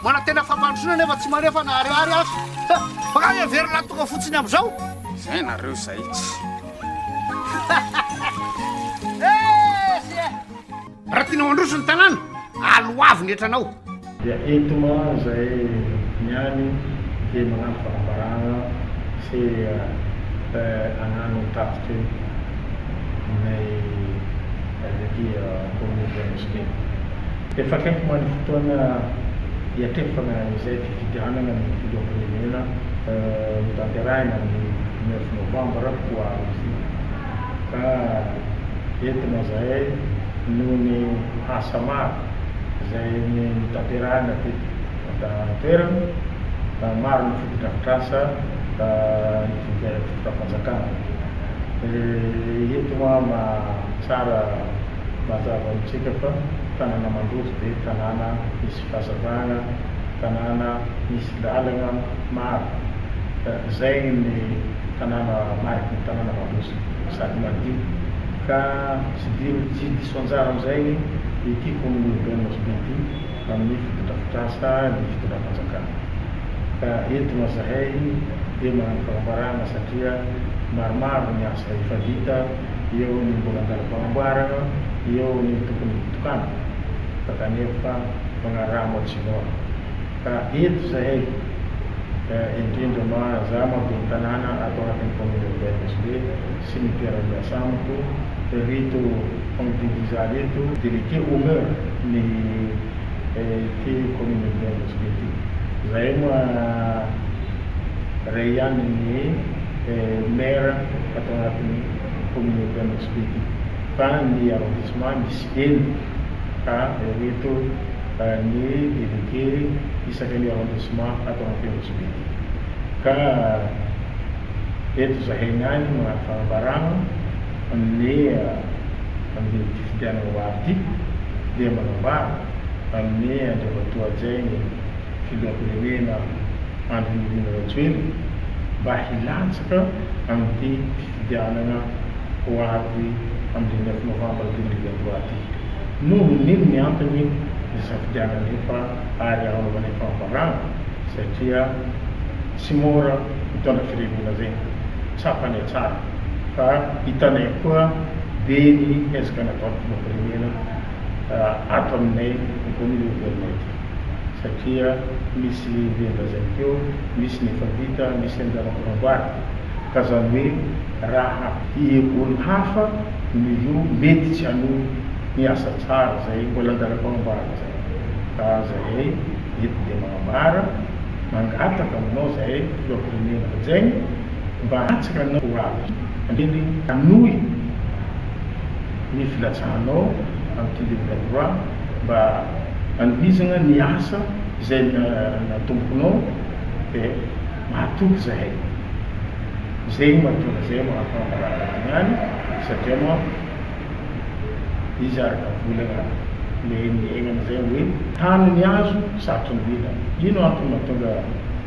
Manantena fampandrosoana nefa tsy manefa na ariary aza. Makany e, very latonga fotsiny amizao. Zay nareo zay tsy. Raha tianao handroso ny tanàna, aloavy ny hetranao. Dia eto ma zay ny any dia magnano fanambarana sy agnano tatitry ny. avy aty Kaominina Anositeny. Efa akaiky moa ny fotoana hiatrefana izay fifidianana ny Filoham-pirenena notanterahina ny dimy neuf novambra ho avy ity ka entina izahay noho ny asa maro izay notanterahina teto an-toerana. Maro ny fotodrafitrasa hividianana ny. Rafanjakana. Eh eto hoa ma tsara mazava amintsika fa tanana mandroso dia tanana misy fazavana, tanana misy lalana maro. Zay ny tanana mariky ny tanana mandroso sady madio. Ka tsy di tsy diso anjara amin'izay ity Kominina Urbaine Nosy Be ity amin'ny fotodrafitrasa ny Fitondrafanjakana. ka eto moa zahay dia manana fanambarana satria maromaro ny asa efa vita, eo ny mbola an-dalam-panamboarana, eo ny tokony hitokanana fa kanefa manaraha moatsinona. Ka eto zahay, indrindra ma za ma ben'ny tanàna ato anatin'ny commune urbaine Antsonjera sy ny mpiara-miasa amiko rito Henri Dizary rito, délégué au maire ny. ity communauté antsika ity. Izahay moa iray ihany ny maire ato anatin'ny communauté antsika ity fa ny arrondissement misy enina ka ireto ny délégué isaky ny arrondissement ato anaty antsika ity ka eto izahay ihany no maha fahabarana. Anle andeha ity fidianana ho avy ity dia manambara anle Andriamatoa Jainy Filoham-pirenena Andry Nirina Rajoelina mba hilatsaka amin'ity fifidianana ho avy amin'ny dimy ambin'ny folo novambra dimy arivo iray roa ity. Noho ny inona ny antony nisafidianana anefa ary hanaovana ny fanambarana satria tsy mora mitondra firenena izay tsapany hatsara. fa hitanay koa be ny ezaka nataon'ny Filoham-pirenena ato aminay ambony Governemanta ity satria misy lian-drazany teo, misy ny efa vita, misy ny andao ampanamboarana ka izany hoe raha ireo olona hafa no io mety tsy hanohy ny asa tsara izay mbola an-dalam-panamboarana izay ka izahay eto dia manambara, mangataka aminao izahay Filoham-pirenena hajaina. Mba atsy ra nao avy reny hanohy ny filatsahanao amin'ity Libre Droit mba hanohizagna ny asa izay natombokonao dia mahatoky zahay. Zegny mahatonga zahay mahatonga rahalahiny any satria manko izy araka volagna le niaignana zay hoe tany ny azo satry ny mila. Ino antony mahatonga.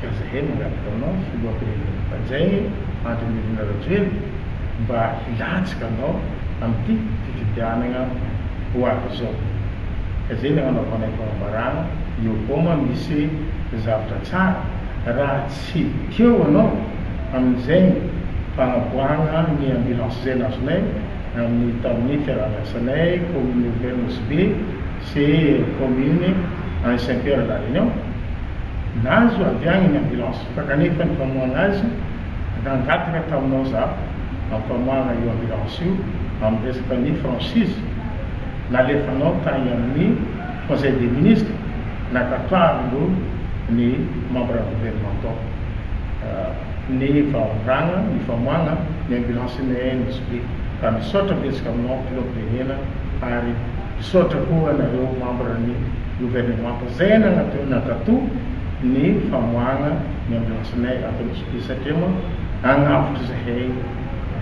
ka zahay mangataka anao filohampirenena mpanjainy Andry Nirina Rajoelina mba hilatsaka anao amin'ity fifidianagna ho avy izao ka zay ny agnanaovanay fanambarana eo koa ma misy zavatra tsara raha tsy teo anao amin'izay ny fagnaboahagna ny ambulance zay nazonay amin'ny tamin'ny fiaraha-miasanay commune urbaine Nosy Be Sy ireo kaominina any Saint Pierre La Réunion. Nahazo avy agny ny ambulance fa kanefa ny famoahagna azy nangataka taminao za hampamoahagna io ambulance io amin'ny resaka ny franchise nalefanao tagny amin'ny conseil des ministres nankatoavin'ireo ny membres gouvernementaux. ny vahaolana, ny famoahana ny ambulance ny ANSP. Ka misaotra betsaka aminao Claude Benena ary misaotra koa anareo membre ny gouvernemanta zay nanaton'ny nankato ny famoahana ny ambulance nay ato Nosy-Be satria moa agnavotra zahay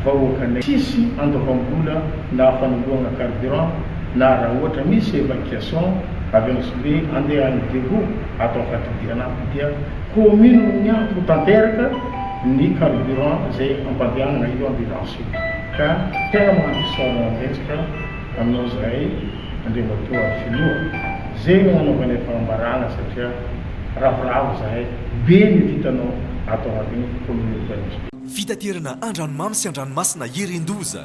vahoakanay tsisy andoavam-bola na fanoloana carburant na raha ohatra misy evacuation avy Nosy-Be andeha any Diego ato amin'ny fadidiana ato dia commune no miantona tanteraka ny carburant izay ampandehanana io ambulance io ka tena mahafisaora manenjika anao zahay Andriamatoa Filoha ze no anaovanay fanambarana satria ravoravo zahay be ny vitanao ato anatin'ny commune Tanjombato. Fitaterana an-dranomamy sy an-dranomasina irin-doza.